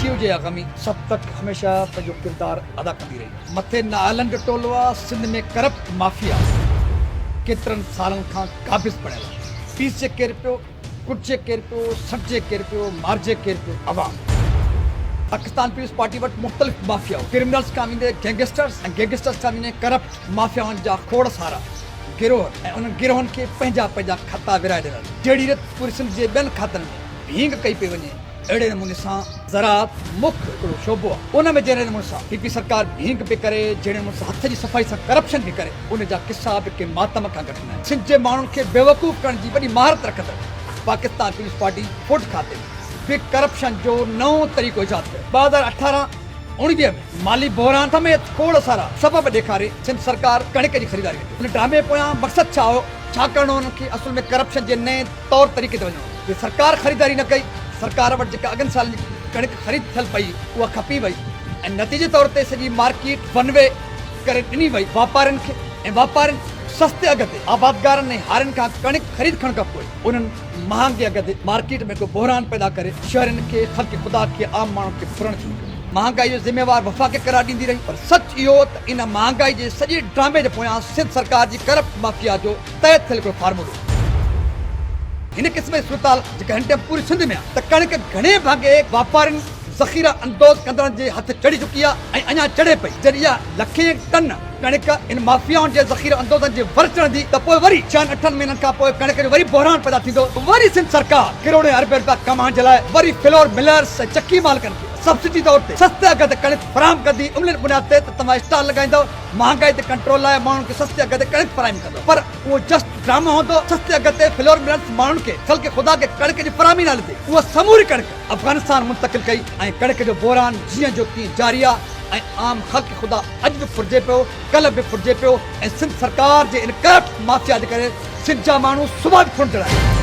خوشيء جي اها غمي سڀ تڪ هميشه پنهنجو ڪردار ادا ڪندي رهي. مٿي نااهلن جو ٽولو آ، سنڌ ۾ ڪرپٽ مافيا ڪيترن سالن کان قابض بڻيل آ. پيسجي ڪير پيو، ڪٽجي ڪير پيو، سٽجي ڪير پيو، مارجي ڪير پيو، عوام. پاڪستان پيپلز پارٽي وٽ مختلف مافيائو، ڪرمنلز کان ويندي گينگسٽرز ۽ گينگسٽرز کان ويندي ڪرپٽ مافيائن جا کوڙ سارا. گروهن ۽ انهن گروهن کي پنهنجا پنهنجا خطا ورهائي ڏنل جهڙي ريت پوري سنڌ جي ٻين کاتن ۾ ڀينگ ڪئي پئي وڃي اهڙي نموني سان زراعت مک هڪڙو شعبو آهي ان ۾ جهڙي نموني سان پي پي سرڪار ڀينگ پئي ڪري جهڙي نموني سان هٿ جي صفائي سان ڪرپشن پئي ڪري ان جا قصا به ڪنهن ماتم کان گهٽ ناهن سنڌ جي ماڻهن کي بيوقوف ڪرڻ جي وڏي مهارت رکندڙ پاڪستان پيپلز پارٽي فوڊ کاتي ۾ به ڪرپشن جو نئون طريقو ايجاد ڪيو ٻه هزار اٺارهن اوڻيجهه ۾ مالي بحران سميت کوڙ سارا سبب ڏيکاري سنڌ سرڪار ڪڻڪ جي خريداري وٽ ان ڊرامي پويان مقصد ڇا هو؟ ڇا ڪرڻو هو انهن کي اصل ۾ ڪرپشن جي نئين طور طريقي تي وڃڻو هو جي سرڪار خريداري نه ڪئي سرڪار وٽ جيڪا اڳن سالن جي ڪڻڪ خريد ٿيل پئي اها کپي وئي ۽ نتيجي طور تي سڄي مارڪيٽ ون وي ڪري ڏني وئي واپارين کي ۽ واپارين سستي اگهه تي آبادگارن ۽ هارين کان ڪڻڪ خريد کڻ کان پوء انهن مهانگي اگهه تي مارڪيٽ ۾ ڪو بحران پيدا ڪري شهرين کي، خلق خدا کي، عام ماڻهن کي ڦرڻ شروع ڪيو. مهانگائي جو ذميوار وفاق قرار ڏيندي رهي پر سچ اهو ته ان مهانگائي جي سڄي ڊرامي جي پويان سنڌ سرڪار جي ڪرپٽ مافيا جو تحت ٿيل هڪڙو فارمولو هو. هن قسم جي صورتحال جيڪا هن ٽائيم پوري سنڌ ۾ آهي ته ڪڻڪ گهڻي ڀاڳي واپارين، ذخيره اندوز ڪندڙن جي هٿ چڙهي چڪي آهي ۽ اڃا چڙهي پئي جڏهن اها لکين ٽن، ڪڻڪ ان مافيائن جي ذخيره اندوزن جي ور چڙهندي ته پوء وري ڇهن اٺن مهينن کان پوء ڪڻڪ جو وري بحران پيدا ٿيندو، وري سنڌ سرڪار ڪروڙين اربين رپيا ڪمائڻ جي لاء وري فلور ملرز ۽ چڪي مالڪن کي سبسڊي طور تي سستي اگهه تي ڪڻڪ فراهم ڪندي عملين بنياد تي ته توهان اسٽال لڳائيندؤ مهانگائي تي ڪنٽرول لاء ماڻهن کي سستي اگهه تي ڪڻڪ فراهم ڪندؤ پر اهو جسٽ ڊرامو هوندو سستي اگهه تي فلور ملرز ماڻهن کي خلق خدا کي ڪڻڪ جي فراهمي نالي تي اها سموري ڪڻڪ افغانستان منتقل ڪئي ۽ ڪڻڪ جو بحران جيئن جو تيئن جاري آهي ۽ عام خلق خدا اڄ به ڦرجي پيو، ڪلهه به ڦرجي پيو ۽ سنڌ سرڪار جي ان ڪرپٽ مافيا جي ڪري سنڌ جا ماڻهو صبح به ڦرندڙ آهن.